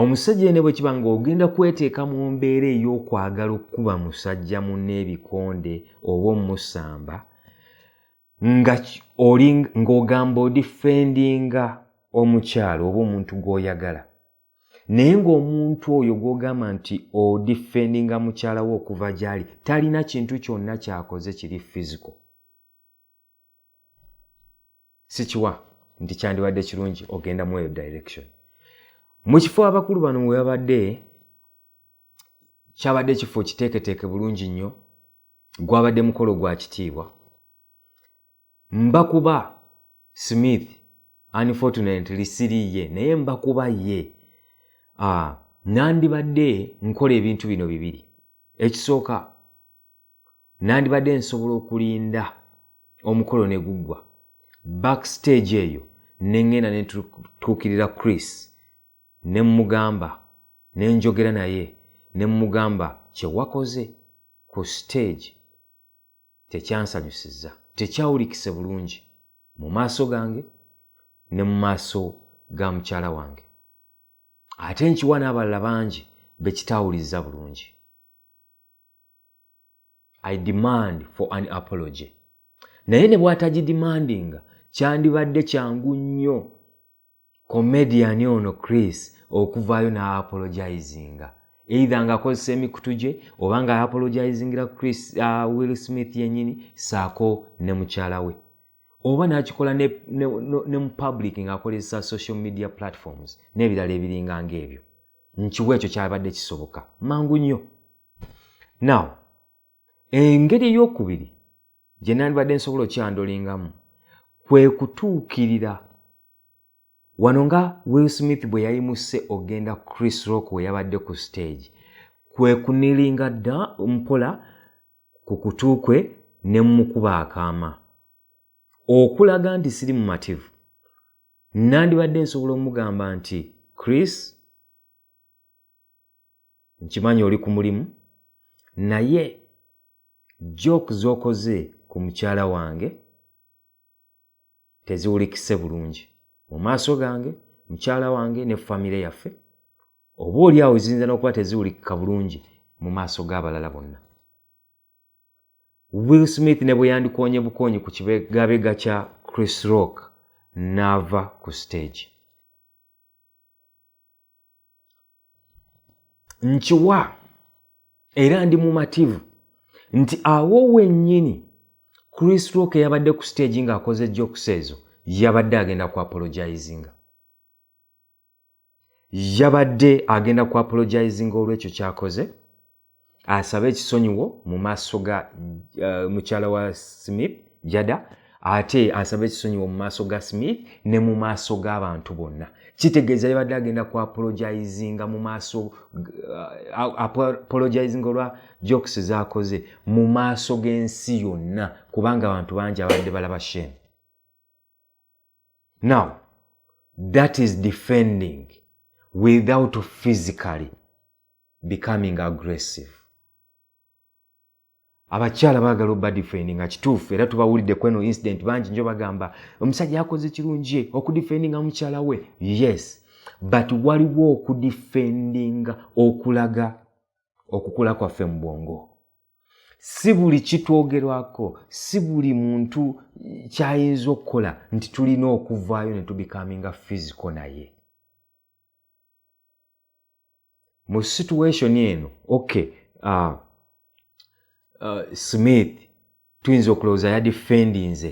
omusajja ene bwe kiba ng'ogenda kweteeka mu mbeera ey'okwagala okukuba musajja munna ebikonde oba omusamba nga oli ng'ogamba odifendinga omukyalo oba omuntu gw'oyagala naye ng'omuntu oyo gw'ogamba nti odifendinga mukyala we okuva gy'ali talina kintu kyonna kyakoze kiri fiziko sikiwa nti kyandibadde kirungi ogenda mu eyo direction mu kifo abakulu bano we babadde kyabadde ekifo kiteeketeeke bulungi nnyo gwabadde mukolo gwa kitiibwa mbakuba smith unfortunately siri ye naye mbakuba ye ah, nandibadde nkola ebintu bino bibiri ekisooka nandibadde nsobola okulinda omukolo ne guggwa backstage eyo ne ŋŋenda ne tutuukirira chris ne mmugamba ne njogera naye ne mmugamba kye wakoze ku stage tekyansanyusiza tekyawulikise bulungi mu maaso gange ne mu maaso ga mukyala wange ate nkiwa n'abalala bangi be kitaawulizza bulungi i demand for an apology naye ne bwatagidimandinga kyandibadde kyangu nnyo komediyani ono chris okuvaayo n'aapologizinga eitha ng'akozesa emikutu gye oba nga apologizingira chris uh, will smith yennyini saako ne mukyala we oba n'akikola ne, ne, ne, ne mu public ng'akozesa social media platforms n'ebirala ebiringa ng'ebyo nkiwa ekyo kyabadde kisoboka mangu nnyo now engeri ey'okubiri gye nandibadde nsobola okyandolingamu kwe kutuukirira wano nga will smith bwe yayimusse okugenda chris rock we yabadde ku stage kwe kunilinga dda mpola ku kutu kwe ne mmukuba akaama okulaga nti siri mumativu nandibadde nsobola omugamba nti chris nkimanyi oli ku mulimu naye joke z'okoze ku mukyala wange teziwulikise bulungi mu maaso gange mukyala wange ne famire yaffe oba oli awo ziyinza n'okuba teziwulikika bulungi mu maaso g'abalala bonna will smith ne bwe yandikoonye bukoonyi ku kibegabega kya chris rock n'ava ku siteegi nkiwa era ndi mumativu nti awo wennyini chris rock yabadde ku siteegi ng'akoze jokes ezo yabadde agenda ku apologizinga yabadde agenda ku apologizinga olw'ekyo kyakoze asabe ekisonyiwo mu maaso ga uh, mukyala wa smith jada ate asabe ekisonyiwo mu maaso ga smith ne mu maaso g'abantu bonna kitegeeza yabadde agenda ku apologizinga mu maaso uh, apologizinga olwa jokes zakoze mu maaso g'ensi yonna kubanga abantu bangi abadde balaba shame now that is defending without physically becoming aggressive abakyala bagala obadifendi nga kituufu era tubawulidde kweno incident bangi njo bagamba omusajja yakoze kirungi okudifendinga mukyala we yes but waliwo okudifendinga okulaga okukula kwaffe mu bwongo si buli kitwogerwako si buli muntu kyayinza okukola nti tulina okuvaayo ne tubikaminga fiziko naye mu situation eno okay uh, uh, smith tuyinza okulowooza yadifendinze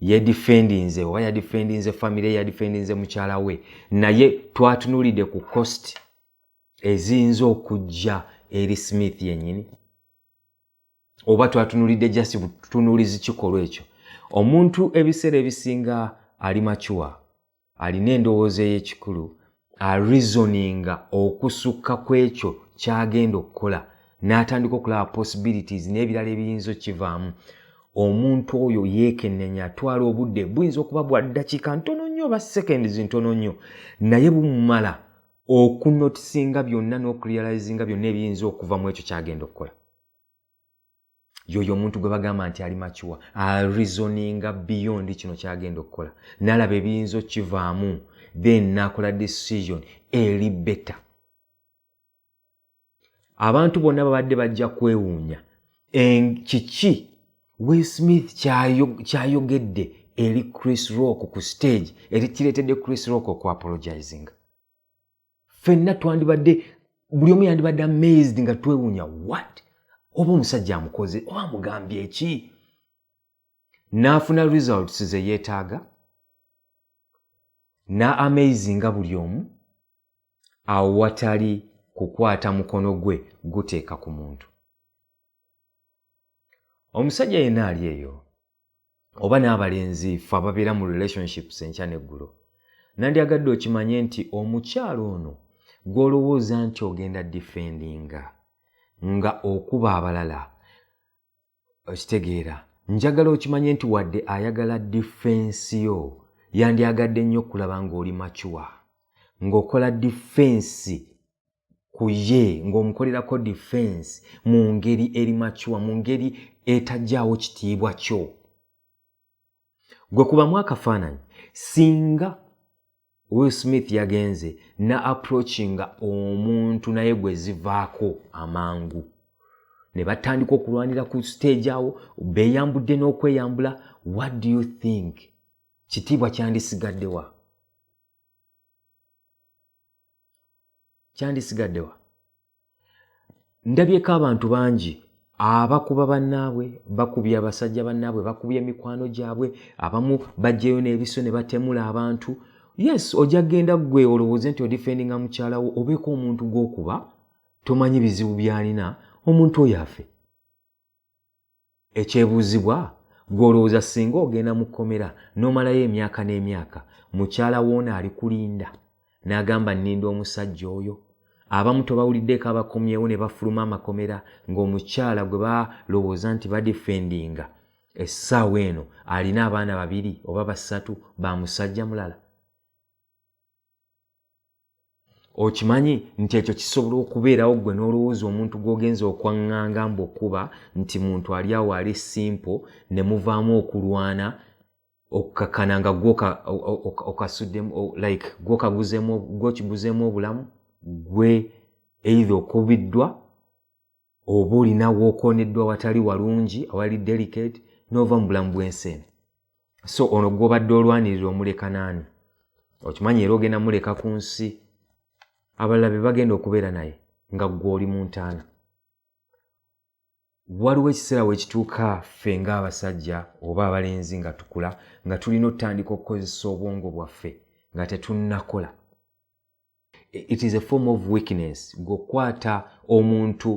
yedifendinze oba yadifendinze famire yadifendinze mukyala we naye twatunulidde ku cost eziyinza okujja eri smith yenyini oba twatunulidde just tunulizi kikolwa ekyo omuntu ebiseera ebisinga ali macuwa alina endowooza ey'ekikulu arizoninga okusukka ku ekyo kyagenda okukola n'atandika okulaba possibilities n'ebirala ebiyinza okukivaamu omuntu oyo yeekennenya atwala obudde buyinza okuba bwa ddakiika ntono nnyo oba seconds ntono nnyo naye bumumala okunotisinga byonna n'okurealizinga byonna ebiyinza okuva mu ekyo kyagenda okukola yoyo omuntu gwe bagamba nti ali makiwa arizoninga beyond kino kyagenda okukola nalaba ebiyinza okukivaamu then nakola decision eri beta abantu bonna babadde bajja kwewuunya kiki will smith kyayogedde eri chris rock ku stage eri kireetedde chris rock okuapologizinga fenna twandibadde buli omu yandibadde amazed nga twewuunya wat oba omusajja amukoze oba amugambye eki n'afuna results ze yeetaaga na amazinga buli omu awo watali kukwata mukono gwe guteeka ku muntu omusajja yenna ali eyo oba n'abalenzi fe ababeera mu relationships enkya neggulo nandyagadde okimanye nti omukyalo ono gw'olowooza nti ogenda difendinga nga okuba abalala okitegeera njagala okimanye nti wadde ayagala difensi yo yandyagadde nnyo okulaba ng'oli macuwa ng'okola difensi ku ye ng'omukolerako difensi mu ngeri eri macuwa mu ngeri etajjaawo kitiibwa kyo gwe kubamu akafaananyi singa will smith yagenze na approachinga omuntu naye gwe zivaako amangu ne batandika okulwanira ku stage awo beeyambudde n'okweyambula what do you think kitiibwa kyandisigaddewa kyandisigaddewa ndabyeko abantu bangi abakuba bannaabwe bakubya abasajja bannaabwe bakubya emikwano gyabwe abamu bajjeyo n'ebiso ne batemula abantu yes ojja genda gwe olowooze nti odifendinga mukyalawo obeeko omuntu gw'okuba tomanyi bizibu byalina omuntu oyo afe ekyebuuzibwa gwe olowooza singa ogenda mu kkomera n'omalayo emyaka n'emyaka mukyala woona ali kulinda n'agamba nninda omusajja oyo abamu tobawuliddeeko abakomyewo ne bafuluma amakomera ng'omukyala gwe balowooza nti badifendinga essaawa eno alina abaana babiri oba basatu ba musajja mulala okimanyi nti ekyo kisobola okubeerawo gwe n'olowooza omuntu gw'ogenza okwaŋŋanga mbuokuba nti muntu ali awo ali simpo ne muvaamu okulwana okukakana nga gwokasuddemu like gwokaguzemu gwokiguzeemu obulamu gwe eitha okubiddwa oba olina wookoneddwa watali walungi awali delicate n'ova mu bulamu bw'ensi eno so ono gwobadde olwanirira omuleka naani okimanyi era ogenda muleka ku nsi abalala be bagenda okubeera naye nga ggwe oli mu ntaana waliwo ekiseera wekituuka ffe ng'abasajja oba abalenzi nga tukula nga tulina otutandika okukozesa obwongo bwaffe nga tetunnakola it is a form of weakness gweokukwata omuntu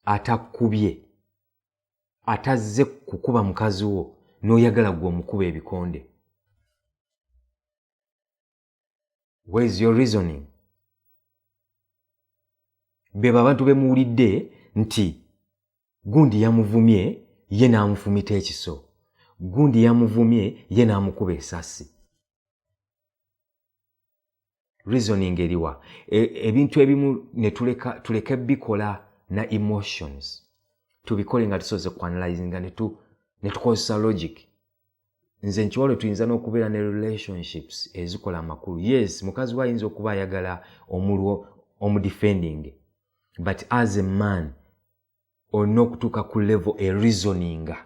atakubye atazze kukuba mukazi wo n'oyagala gwe omukuba ebikonde where is your reasoning bebo abantu bemuwulidde nti gundi yamuvumye ye n'amufumita ekiso gundi yamuvumye ye n'amukuba esasi reasoning eriwa e, ebintu ebimu netuleka tuleke bikola na emotions tubikole nga tusoze kuanalyzinga netukozesa logic nze nkiwalo tuyinza n'okubeera ne relationships ezikola amakulu yes mukazi we ayinza okuba ayagala omulwo omudefending but as a man olina okutuuka ku level e reasoninga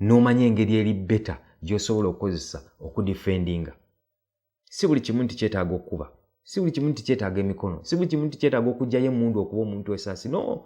n'omanya engeri eri beta gy'osobola okukozesa okudifendinga si buli kimu nti kyetaaga okukuba si buli kimu nti kyetaaga emikono si buli kimu nti kyetaaga okugyayo emundu okuba omuntu esaasi no